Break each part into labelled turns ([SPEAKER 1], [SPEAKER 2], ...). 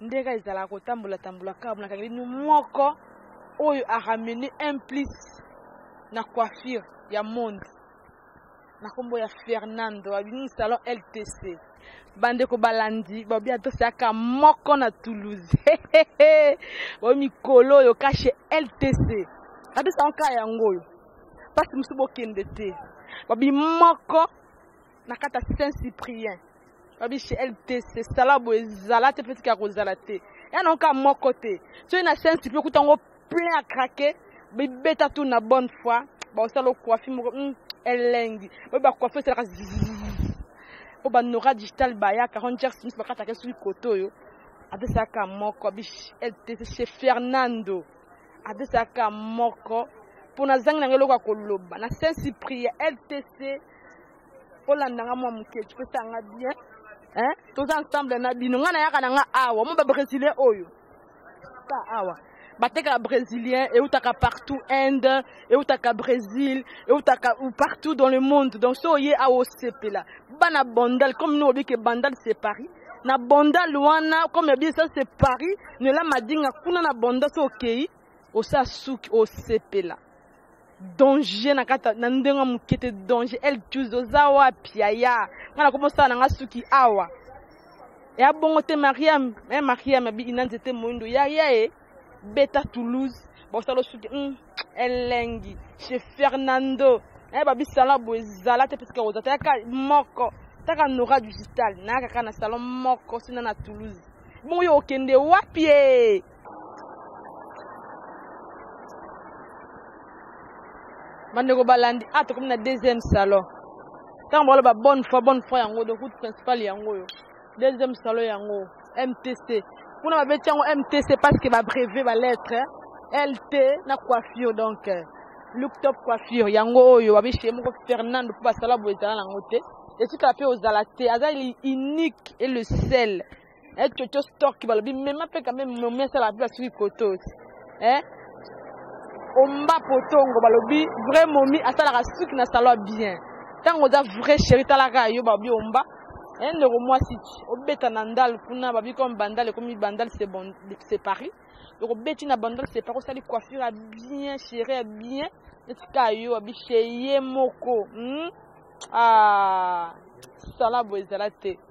[SPEAKER 1] ndenge ezalaka kotambola tambola kaka mona kangeli nu moko oyo aramene un plus na coiffure ya monde na nkombo ya fernando abimi salon ltc bandeko balandi babi atosaka moko na toulouse oyo mikolo oyo kashe ltc atosaka kaka yango oyo mpasi mosusu bokende te babi moko na kata saint cyprien babi chez ltc sala boye ezala te petike ya kozala te ya nango kaka moko te soki na saint cyprien okuta yango plein ya krake bibeta tu na bonne foi bakosala okuafi moko hmm, elengi oyo bakuafi esalaka oyo banora digital bayaka ranger smith bakataka soki koto oyo adesaka moko abi ltc chez fernando adesaka moko mpo nazangi na ngai eloko ya koloba na saint cyprien ltc olanda nga mwa moke topesa nga bien hein? toza ensemble na bino nga nayaka na nga awa mo babrésilien oyo ta awa batekaka brésilien eutaka partout inde eutaka brésil eutaka partout dans le monde donc so oye awa osepela bana bandal comme no obike bandal c'est paris na bandal wana comme yabi ça c'est paris nela madinga kuna na banda so okei osa suki osepela danger na kati na ndenge moke te danger el jus oza wapi yaya ngai nakomi osala na ngai suki awa ya bongo te mariam e eh, mariam abi ina nzete moindo yaya e eh, beta toulouse bakosala osuki mm, elengi chez fernando eh, babisala boye ezala te parce que oza tayaka moko taka nora digital nayaka kaka na salon moko sina na toulouse bongo yo okende wapi e bandeko balandi a ah, tokomi na deuxième salon ntango baloba bonne fois bonne fois yango donc route principale yango oyo deuxième salon yango mtc kuna babeti yango mtc parce que babreve balettre lt na coiffure donc euh, look top coiffure yango oyo babeshie moko fernando mpo basala boye ezala nango te etikala mpe ozala te aza unique et le sel eh coco stock balobi mema mpe quand même momi asala mpe basuki kotos eh omba potongo balobi vrai momi asalaka suki na salon bien ntango oza vrai chéri talaka yo balobi omba eh ndeko mwasi obeta na ndal kuna babi comme bandal ekomi bandal c'est bon c'est paris donc obeti na bandal c'est paris osali coiffure ya bien chéri ya bien neti ka yo abi chez ye moko hmm? ah sala boye ezala te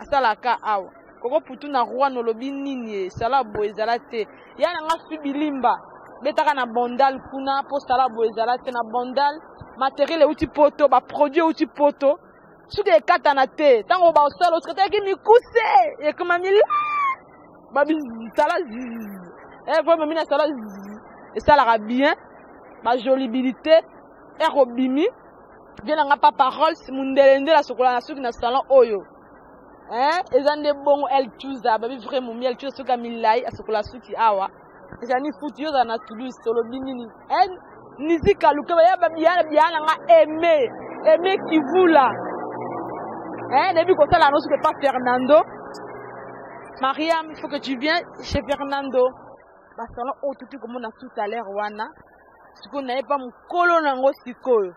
[SPEAKER 1] asala ka awa koko putu na roi nolobi nini ye sala boye ezala te ya na nga subi limba betaka na bondal kuna mpo sala boye ezala te na bondal materiel euti poto baproduit euti poto soki ekatana te ntango basala osikataki mikuse ekoma mila babisala ekomemi eh, na sala esalaka bien bajolibilité ekobimi vie na nga papa rolls mundele nde nasokola na suki na salon oyo hein eza nde bongo el tuza babi vrai momi el tuza soki amilai asokola suki awa ezali futi yo ozala na toulouse tolobi nini hein nizika lukeba ya babiyana biyana nga aime aime kivula hein nayebi kosala yango soki epa fernando mariam il faut que tu viens chez fernando basalon oyo tuti komona tout à l'heure wana sikoyo naye pa mokolo na yango sikoyo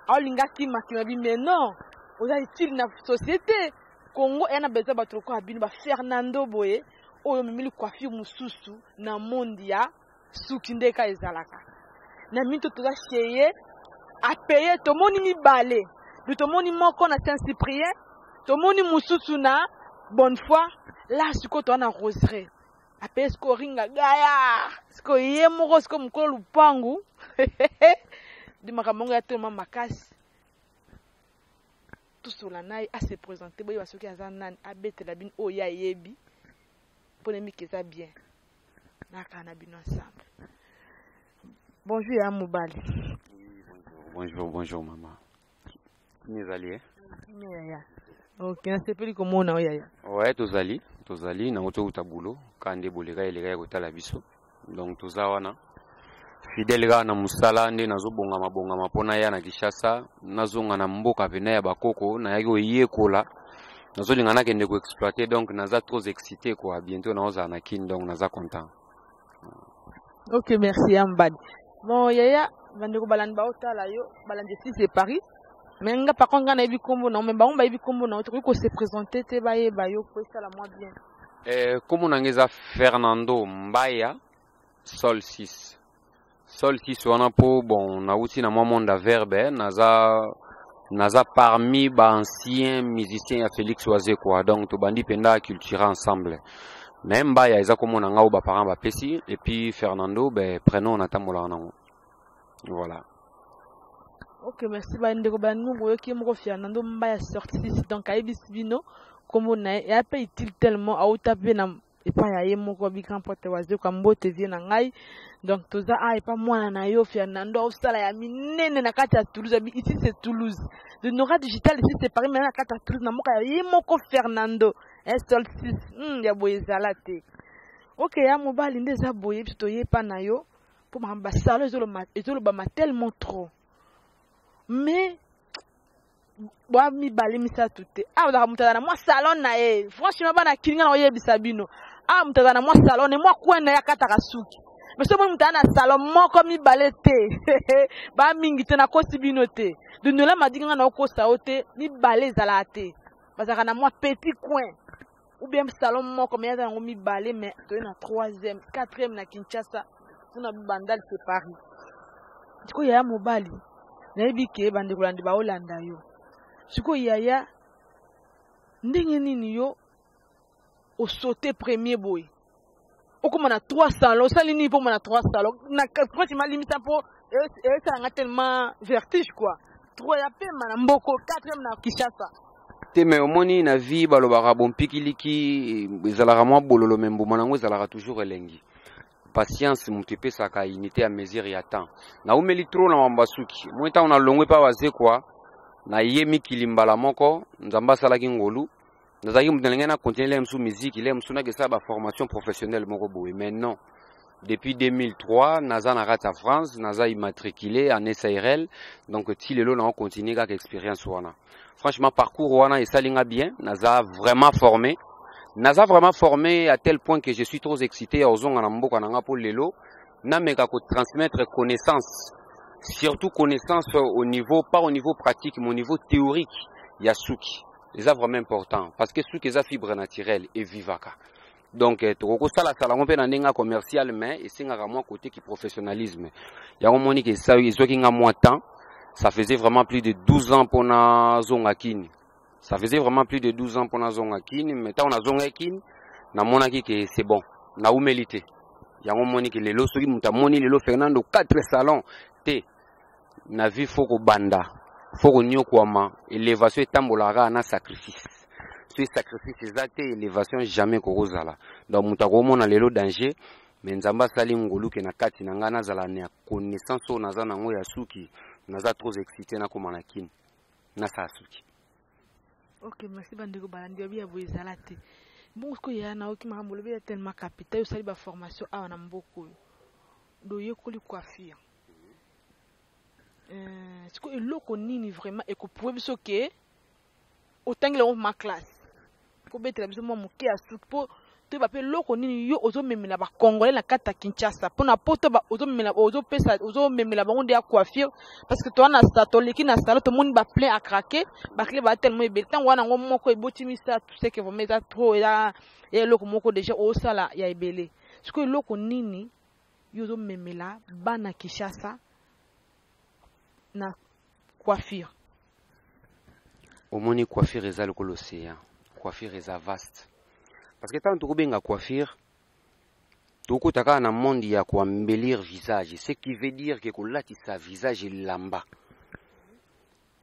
[SPEAKER 1] aolinga akimakima bi mais non oza utile na société congo eya na besoin bato lokola bino ba fernando boye oyo omemeli coiffure mosusu na monde ya suki nde ka ezalaka na mito toza cheye apeye tomoni mibale du tomoni moko na saint cyprien tomoni mosusu na bonne foi la sikoyo toza na roseraie apesi ko ringa gaya siko ye moko siko mokolo lupangu di makambo yango ya toloma makasi tosola na ye ase présente boyeba soki aza nani abetela bino oyo ye ayebi mpo na miki eza bien nakaa na bino ensemble bonjour ya mobali bonjour
[SPEAKER 2] bonjour maman
[SPEAKER 1] Kimia ezali ye.
[SPEAKER 2] Kimia
[SPEAKER 1] yaya. Ok,
[SPEAKER 2] nasepeli
[SPEAKER 1] komona
[SPEAKER 2] oyo yaya. Ouais,
[SPEAKER 1] tozali,
[SPEAKER 2] tozali nango tokouta boulot, kaka nde boleka eleka ya kotala biso. Donc toza wana fidèle kaka na mosala nde nazobongama bongama mpo naya na Kinshasa, nazonga na mboka pena ya bakoko, nayaki koyekola nazolinga nakende ko exploiter donc naza trop excité quoi, bientôt naozala na Kin donc naza content.
[SPEAKER 1] ok merci ya mbadi bon yaya bandeko balandi baotala yo balandi esi se paris me nga par contre nga nayebi nkombo na yo me bango bayebi nkombo na yo tokoki kose présente te bayeba yo mpo esala mwa bien eh, nkombo na
[SPEAKER 2] nga eza fernando mbaya sol 6 sol sis wana po bon nauti na mwa monde ya verbe eh, naza naza parmi ba ancien musicien ya félix wazekwa donc tobandi mpenza aculture ensemble me mbaya eza komona ngai oyo baparent bapesi epuis fernando be prenom natambolaka nango voilà
[SPEAKER 1] ok merci bandeko banungu oyoki moko fernando mbaya sortis donc ayebisi bino nkombo na ye eya mpe utile tellement auta mpe na epa ya ye moko bi grand pote wazekwa mbote vie na ngai donc toza a epa mwana na yo fernando aosala ya minene na kati ya toulouse abi ici c'est toulouse de nora digital ici c'est paris mena na kati ya toulouse na mboka ya ye moko fernando esol 6 hmm, ya boye ezala te oke ya mobali nde eza boye biso toye epa na yo mpo makambo basalo ezolobama tellement trop mais bwa mibale misato te awa ozalaka moto azala na mwa salon na ye franchement bana kilinga na oyebisa bino awa moto azala na mwa salon na ye mwa kwen na ye akataka suki mais soki moto aza na salon moko mibale te ba mingi te nakosi bino te dondola madinga nga na okosa yo te mibale ezalaka te bazalaka na mwa petit coin ou bien salon moko mais aza nango mibale mais toye na troisième quatrième na kinshasa mpona bandal se paris sikoyo yaya mobali nayebi ke bandeko landi baolanda yo sikoyo yaya ndenge nini yo osaute premier boye okoma na trois salon osali nini mpo omona trois salon na kati malimisa mpo esala nga tellement vertige quoi trois ya pema na mboko quatrième na kinshasa te me omoni
[SPEAKER 2] na vie balobaka bompikiliki ezalaka mwa bololo me mbuma nango ezalaka toujours elengi patience moto epesaka unité ya mesure ya temps naumeli trop na mambo asuki moi ntango nalongwe mpa bazekwa naye mikili mbala moko nzambe asalaki ngolu nazalaki moto nalingai na continue lele mosusu miziki lele mosusu nakesala baformation professionnelle moko boye mais non depuis 2003 naza na kati ya france naza immatricule en sirl donc ti lelo nao continue kaka expérience wana franchement parcours wana esali nga bien naza vraiment formé naza vraiment formé à tel point que je suis trop excité ya kozonga na mboka na nga mpo lelo nameka kotransmettre connaissance surtout connaissance au niveau pas au niveau pratique mais au niveau théorique ya suki eza vraiment important parce que suki eza fibre naturelle evivaka donc eh, tokoki kosalasala yango mpe na ndenge ya commercial mais esengaka mwa kote ki professionnalisme yango moni ke ezwaki nga mwa temps ça faisait vraiment plus de 12 ans mpo nazonga kini ça faisait vraiment plus de 12 ans mpo nazonga kini mais ntango nazongaki kini namonaki ke c'est bon naumeli te yango moni ke lelo soki moto amoni lelo fernando 4 salon te na vie fo kobanda fo konyokwama elevation etambolaka kaka na sacrifice soki sacrifice eza te elevation jamais kokozala donc moto akomona lelo danger me nzambe asali ngoluke na kati na ngai nazala na connaissance oyo naza nango ya suki naza trop excité nakoma na kini nasala suki ok
[SPEAKER 1] merci bandeko balandi babi ya boye ezala te bongo sikoyo yaya na oki makambo olobi ya tellement capital osali baformation awa na mboka oyo doyekoli coiffure Eh, sikoyo eloko nini vraiment ekoprouve biso ke otangela yango ma classe kobetela biso mwa moke ya suki mpo toyeba mpe eloko nini yo ozomemela bacongolais na kati ya kinshasa mpo na poto ozomemela ozopesa ozomemela bango nde ya coiffure parce que towana na toleki na salo tomoni baplein à craquer baclé baa tellement ebele ntango wana yango moko eboti misato seke vraimen eza trop eza eloko moko déjà osala ya ebele sikoyo eloko nini yo ozomemela bana kinshasa na coiffure
[SPEAKER 2] omoni coiffure eza lokola océan coiffure eza vaste parce que ntango tokobenga coiffure tokota kaka na monde ya koambelir visage ce qui veut dire ke kolatisa visage elamba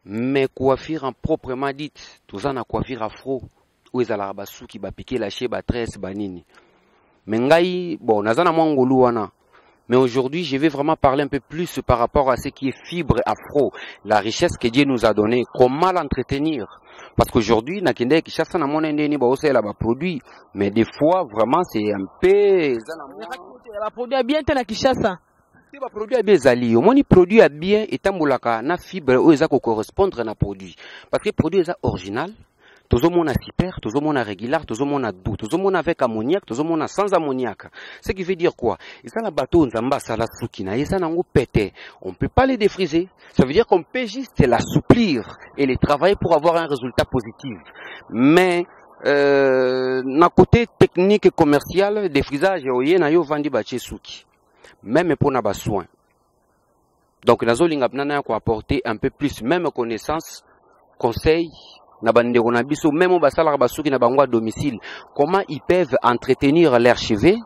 [SPEAKER 2] mais coiffure en proprement dite toza na coiffure afro oyo ezalaka basuki bapike lashe batresse banini mais ngai bon naza na mwa ngolu wana Mais aujourd'hui, je vais vraiment parler un peu plus par rapport à ce qui est fibre afro, la richesse que Dieu nous a donnée, comment l'entretenir. Parce qu'aujourd'hui, na kende Kinshasa na mona ndeni ba osela ba produits, mais des fois vraiment c'est un peu la
[SPEAKER 1] produit bien te na Kinshasa. te ba produit ya
[SPEAKER 2] bien ezali omoni produit ya bien etambolaka na fibre oyo eza kocorrespondre na produit parce que produit eza original tozomona super tozomona régular tozomona doux tozomona avec ammoniaque tozomona sans ammoniaque ce qui veut dire quoi eza na bato oyo nzambe asala suki na ye eza nango pete on peut pas les défriser ça veut dire qu'on peut juste l'assouplir et les travailler pour avoir un résultat positif mais euh, na côté technique et commercial défrisage oye na yo vandi batie suki meme mpo na basoin donc nazolinga mpena naya koapporte un peu plus meme connaissance conseil na bandeko na biso meme oyo basalaka basuki na bango ya domicile comment ils peuvent entretenir leur cheveux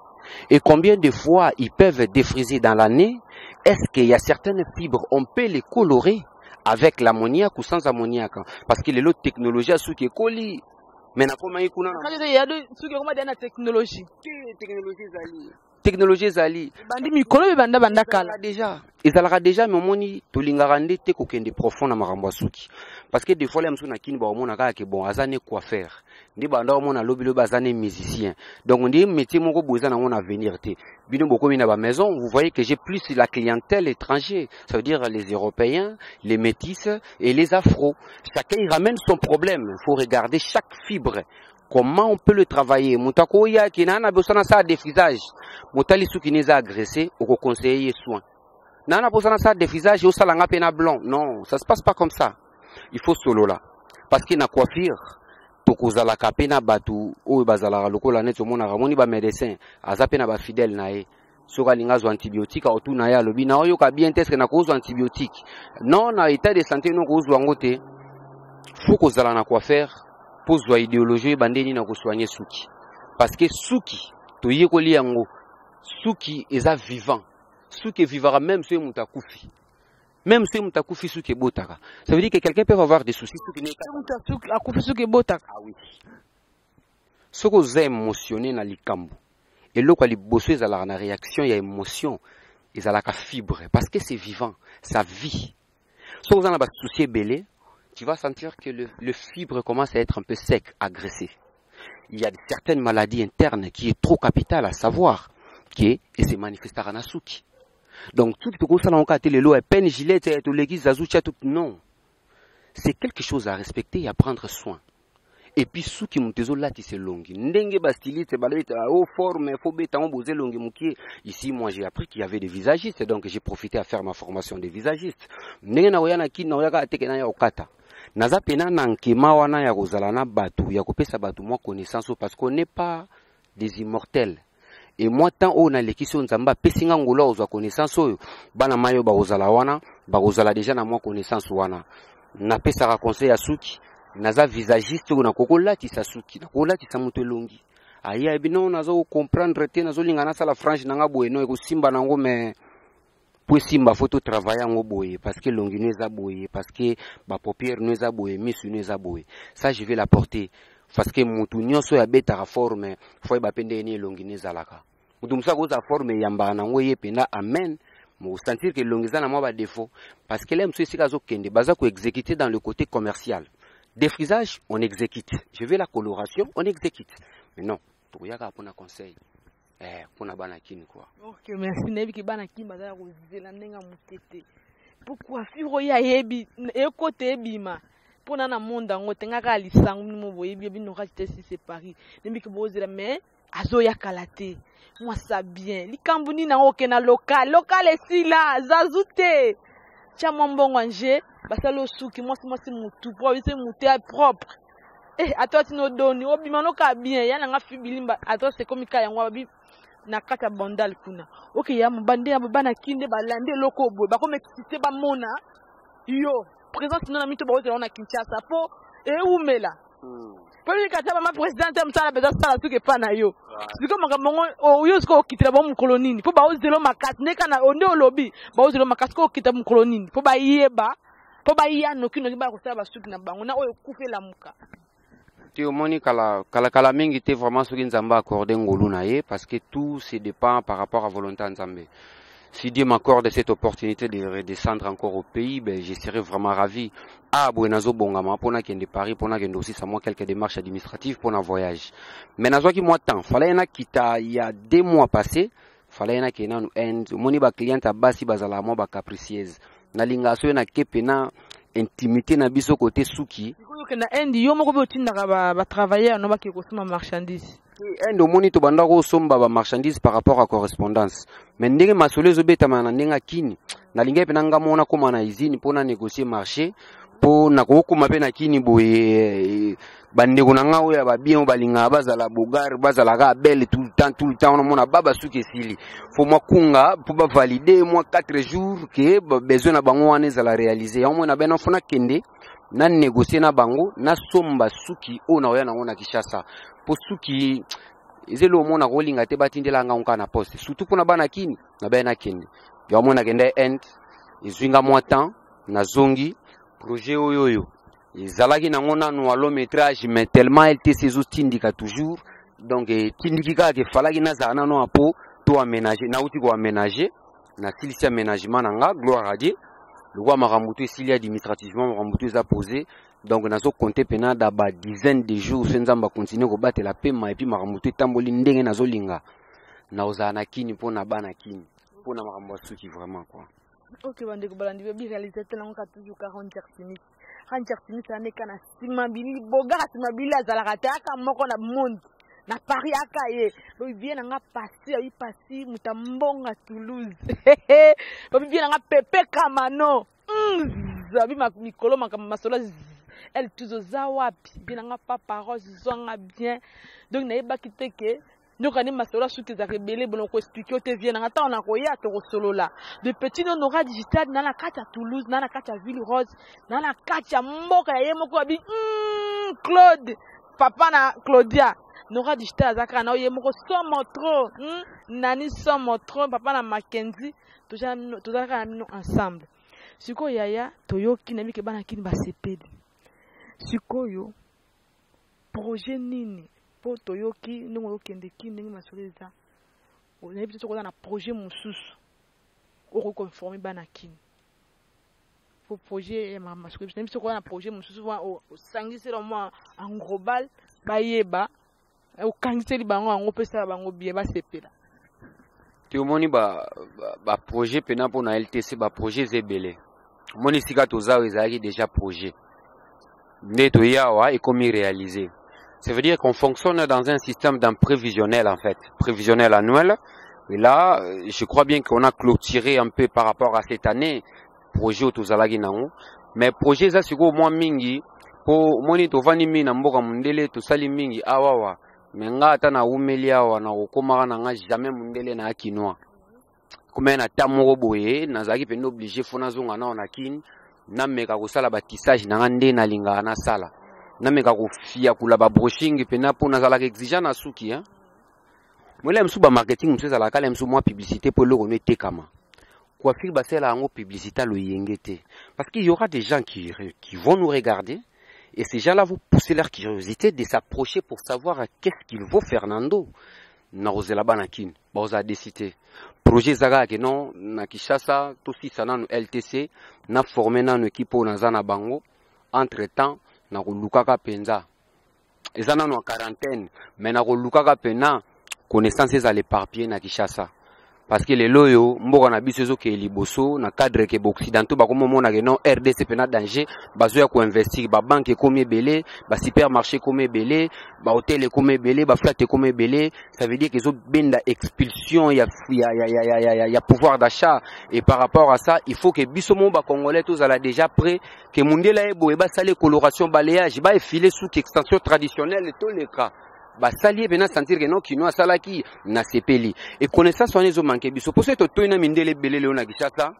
[SPEAKER 2] et combien de fois ils peuvent défriser dans l'année est-ce qu'il y a certaines fibres on peut les colorer avec l'ammoniaque ou sans ammoniaque parce que lelo technologie ya suki ekoli mais nakomaki kuna suki
[SPEAKER 1] ekoma deya na technologie te technologie ezali technologie
[SPEAKER 2] ezali bandi mikolo oyo banda
[SPEAKER 1] banda kala deja ezalaka
[SPEAKER 2] deja me omoni tolingaka nde te kokende profond na makambo ya suki parce que des fois la mosusu na kini bakomona kaka ke bon aza ne coiffeur nde banda omona lobi lobi aza ne musicien donc nde métier moko boye eza nango na avenir te bino bokomi na bamaison vous voyez que j'ai plus la clientèle étranger ça veut dire les européens les métis et les afro chacun il ramène son problème il faut regarder chaque fibre Comment on peut le travailler Moto akoya ke na na bosana sa defrisage. Motali suki ne za agresser, oko conseiller soin. Na na bosana sa defrisage au salanga pe na blanc. Non, ça se passe pas comme ça. Il faut solo là. Parce que na coiffure tokozalaka pe na batu oyo bazalaka lokola neti omonaka moni ba médecin aza pe na ba fidèle na ye. soki alingi azwa antibiotique akotuna ye alobi na oyoka bien te eske nakozwa antibiotique non na état de santé no okozwa yango te fo kozala na coiffeur mpo zwa ideologie oyeba nde nini akosoigne suki parce que suki toyekoli yango suki eza vivant suki evivaka meme soki moto akufi même soki moto akufi suki ebotaka ça veut dire que quelqu'un peut avoir des soucis suki akufi suki
[SPEAKER 1] ebotaka ah oui
[SPEAKER 2] soki oza emotionne na likambo eloko ya liboso ezalaka na réaction ya emotion ezalaka fibre parce que c'est vivant ça vit soki oza na basusi ebele tu vas sentir que le, le fibre commence à être un peu sec agressé il y a certaines maladies internes qui est trop capitale à savoir que et se manifestaka na suki donc tout tokosala yango kaka te lelo peine gilete toleki zazu tia tout non c'est quelque chose à respecter et à prendre soin epuis suki moto ezolatisa elongi ndenge bastiliste balobeta o oh, forme fo beta yango boza elongi mokie ici moi j'ai appris qu'il y avait des visagistes donc j'ai profité à faire ma formation de visagiste ndenge nakoya na kini nakoyaka ateke na ya kokata naza pena na nkema wana ya kozala na bato ya kopesa bato mwa connaissance oyo parce qu'on n'est pas des immortels e mwa temps oyo nalekisi oyo nzambe apesi nga ngolo akozwa connaissance oyo bana mai oyo bakozala wana bakozala deja na mwa connaissance wana napesaka conseil ya suki naza visagiste oyo nakoki kolatisa suki nakoki kolatisa moto elongi aye ayebi no naza kocomprendre te nazolinga nasala frange na nga boye no ekosimba nango mais po esimba fo to travaille yango boye parce que longi no eza boye parce que ba paupière no eza boye misu no eza boye ça je vais la porter parce que mutu nyonso oyo abetaka forme fo ayeba mpe ndenge nini elongi no ezalaka mutu mosusu akozala forme eyambaka nango ye mpenza amen mosentir ke elongi eza na mwa badefaut parce que la mosusu esika azokende baza koexécute dans le côté commercial défrisage on exécute je veux la coloration on exécute mais non tokoya kaka mpona conseil eh, mpona bana kini kua ok merci nayebi
[SPEAKER 1] ke bana kini bazala kozela ndenge ya moke te mpo coiffure oyo ayebi ekota ebima mpo na na monde yango te nga kaka lisango bino boyebi bino kati te si se paris nayebi ke bozela mais azoya kala te mwasa bien likambo nini yango okenda lokal lokal esila zazu te tya mwa mbongo anje basali osuki mwasi mwasi motu po abise motu ya propre eh ato atino doni obima noka bien ya nanga fi bilimba ato sekomi ka yango abi na kati ya bandal kuna oke ya mobande ya bana kinde balandi eloko obwe bakomekisite bamona yo présence no na mito bakozela wana kinshasa mpo ewumela hmm. mpo nini kata bama présidente ya mosala mpenza sala soki epai na yo sikoyo makambo yango oyo oh, sikoyo okitela bango mokolo nini mpo baozela makasi ndekana nde olobi baozela makasi ko okita mokolo nini mpo bayeba mpo baya nokinoki baya kosala basuki na bango na oyo ekufa elamuka te omoni
[SPEAKER 2] kala kala kala mingi te vraiment soki nzambe accorde ngolu na ye parce que tout se dépend par rapport à volonté ya nzambe si Dieu m'accorde cette opportunité de redescendre encore au pays, ben, je serai vraiment ravi. Ah, Buenazo Bongama, pour de Paris, pour de aussi, ça moi quelques démarches administratives pour un voyage. Mais nazo qui moi temps, fallait un kita, il y a des mois passés, fala ye nakende nanu inde omoni bacliente ya basi bazalaka mwa bacapricieuse nalingaka soki nake pena intimité na biso kote suki okenda inde yo
[SPEAKER 1] moko mpe otindaka batravailleur no bakee kosomba marchandise inde omoni
[SPEAKER 2] tobanda kosomba bamarchandise par rapport ya correspondance mais ndenge masolo ezobetama na ndenge ya kini nalingaki mpe na ngai moko nakóma na usine mpo na négocier marché mpo nakokoma mpe na kini boye bandeko na ngai oyo ya babien oyo balingaka bazala bogar bazalaka abele tout le temps tout le temps wana mona ba basuki esili fo mwa kunga mpo bavalide mwa 4 jours ke besoin na bango wana ezala réalise yango moi na bena fo nakende na négocie na bango nasomba suki oyo nakoya nango na kinshasa mpo suki eza eloko mona kolinga te batindela ngai nka na poste surtout mpona bana kini na bena nakende yango moi nakenda inde ezwi nga mwa temps nazongi projet oyo oyo ezalaki nango nanu a long metrage mais tellement ltc ezotindika toujours donc etindiki eh, kaka efalaki nazala nano ya po to amenage nauti koamenage nasilisi amenagement na nga gloire a dieu lokola makambo to esili administrativement makambo to eza pose donc nazo compte mpena da ba dizaine de jours se nzambe akontinue kobatela pema epuis makambo to etamboli ndenge nazolinga nakozala na kini mpo na bana kini mpo na makambo ya suki vraiment quoi ok bandeko
[SPEAKER 1] balandi babi réalisateur yango ka toujours 40 heures rangi artimisi ameka na nsima bili bogara nsima bili azalaka te aka moko na monde na paris aka ye bobibie na nga pasi ayi pasi moto ya mbonga toulouse bobibie na nga pepe kamano zabi mikolo makambo masolo elle tuzo za wapi bie na nga papa rose zwanga bien donc nayebaki te ke Nyoka ni masolo ya suki ezalaka ebele bono ko expliquer yo te vie nanga ntango nakoya tokosolola de petit no nora digital na na kati ya toulouse na na kati ya ville rose na na kati ya mboka ya ye moko ya bi mm, claude papa na claudia nora digital aza kaka na yo ye moko somo trop mm, nani somo trop papa na makenzi tozala kaka na bino ensemble sikoyo yaya toyoki na bike bana kini basepeli sikoyo Projet nini po toyoki ndenge ozo kende kin ndenge masolo eza nayebite soki oza na projet mususu okoki ko informe bana kin po projet ya mama masolo nayebi soki oza na projet mususu wana osangisela au moins en global bayeba okangiseli bango yango opesala bango bien basepela te
[SPEAKER 2] omoni ba, ba, ba projet pena mpo na ltc ba projet eza ebele omoni sika toza oyo ezalaki déjà projet nde toye awa ekomi réaliser ça veut dire qu'on fonctionne dans un système d'un prévisionnel en fait prévisionnel annuel et là euh, je crois bien qu'on a clôturé un peu par rapport à cette année projet oyo tozalaki nango mais projet eza sikoyo mwa mingi mpo omoni tovandi mingi na mboka mondele tosali mingi awawa ah, me nga ata nawumeli awa nakokomaka na nga jamais mundele na ya kinois komee na ta moko boye nazalaki mpenza oblige fo nazonga nao na kine nameka kosala batissage na nga nde nalingaka nasala nameka kofiakula babrushing mpena mpo nazalaka exigent na suki hein? molela mosusu bamarketing mosusu ezalaka kala mosusu mwa publicité mpo eloko no etekama coiffure basala yango publicité ya loyenge te parce qu'il y aura des gens qui, qui vont nous regarder Et ces gens-là vont pousser leur curiosité de s'approcher pour savoir à qu'est-ce qu'il vaut Fernando. Narozela Banakin, Baoza décidé. Projet Zaga, que non, na Kishasa, tout si ça nanu LTC, na formé nanu équipe au Nazana Bango. Entre temps, na Lukaka Penza. eza nano en quarantaine mais nakolukaka mpena connaissance ezala éparpillé na kinshasa parce que lelo oyo mboka na biso ezokeye liboso na cadre ke baoccidentaux bakomi omona ke non rdc mpena danger bazoya koinvestir babanke ekomi ebele basupermarché ekomi ebele bahotel ekomi ebele baflate ekomi ebele ça veut dire ke ezobenda expulsion ya, ya, ya, ya, ya, ya, ya, ya pouvoir d'achat et par rapport à ça il faut ke biso moko bacongolais tozala déjà près ke mundela ye boye basali coloration balayage baefile suki extension traditionnelle toleka basali ye mpena sentir ke non kino asalaki nasepeli e connaissance wana ezomanke biso mpo soki totoi na mindele ebele lelo na kinshasa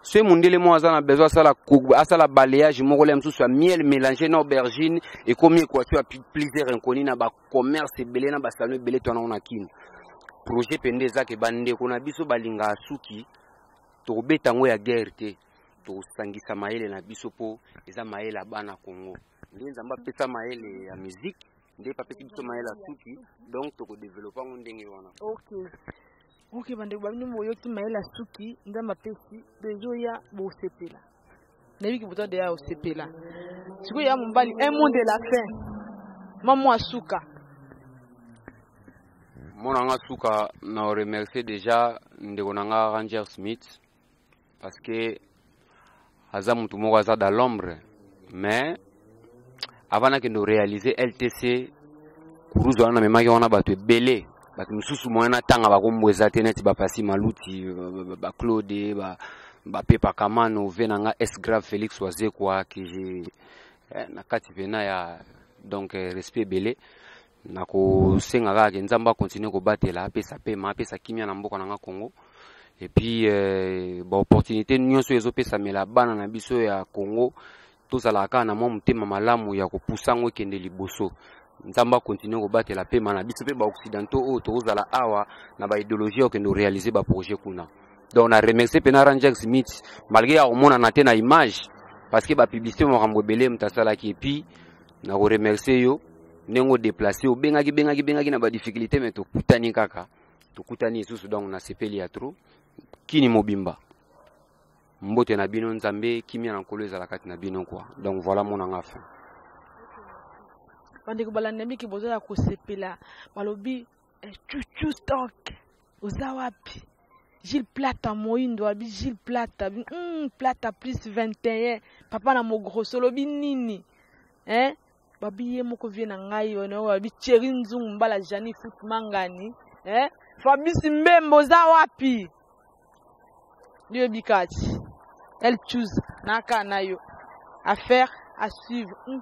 [SPEAKER 2] soki mundele moko aza na besoin asala, asala balayage moko le mosusu ya miel mélange na aubergine ekomi equation ya plusieurs inconi na bacommerce ebele na basalon ebele twana ngo na kino projet mpe nde eza ke bandeko na biso balingaka suki tokobeta yango ya guerre te tosangisa mayele na biso mpo eza mayele ya bana Congo nde nzambe apesa mayele ya musique nde papesi biso mayele ya suki donc
[SPEAKER 1] tokodevelope
[SPEAKER 2] yango ndenge wana okay. ok
[SPEAKER 1] bandeko babino boyoki mayele ya suki nzambe apesi bezoya bosepela nayebiki boza deya osepela sikoyo ya mobali un mot de la fin mamo ya suka
[SPEAKER 2] mona nga suka na remercier déjà ndeko na nga ranger smith parce que aza mutu moko aza dans l'ombre mais avant nakende orealise ltc kuruzu wana namemaki wana bato ebele bato mosusu moyen natanga bakombo eza te neti bapasi maluti baclaude bapepa kamano ve na nga s grave félix wazekwa ke eh, na kati mpena ya donc eh, respect ebele nakosenga kaka ke nzambe akontinue kobatela apesa pema apesa kimia na mboka na nga congo epuis eh, baopportunité nyonso ezopesamela bana na biso ya congo tozalaka kaka na mwa motema malamu ya kopusa yango ekende liboso nzambe akontinue kobatela pema na biso mpe baoccidentaux oyo tokozala awa na baideologie ya kokende korealize baprojet kuna donc na remercie mpe na rangex smith malgré ya komonana te na image parce que bapublicité makambo ebele moto asalaki epuis na ko remercier yo ndenge odeplace obengaki bengaki bengaki na badifficulté me tokutani kaka tokutani lisusu donc nasepeli ya trop kini mobimba mbote na bino nzambe kimia na nkolo ezala kati na bino kua donc voilà monanga fin
[SPEAKER 1] bandeko balandamiki boza ya kosepela balobi Eh, chuchu stock oza wapi Gilles Plata moindo abi Gilles Plata bi mm, Plata plus 21 papa na mogroso lobi nini hein babi ye moko vie na ngai ono abi Thierry Nzungu mbala Jani Foot Mangani hein Fabrice Mbembo oza wapi Dieu bikati elle choose naka na yo affaire à suivre mm.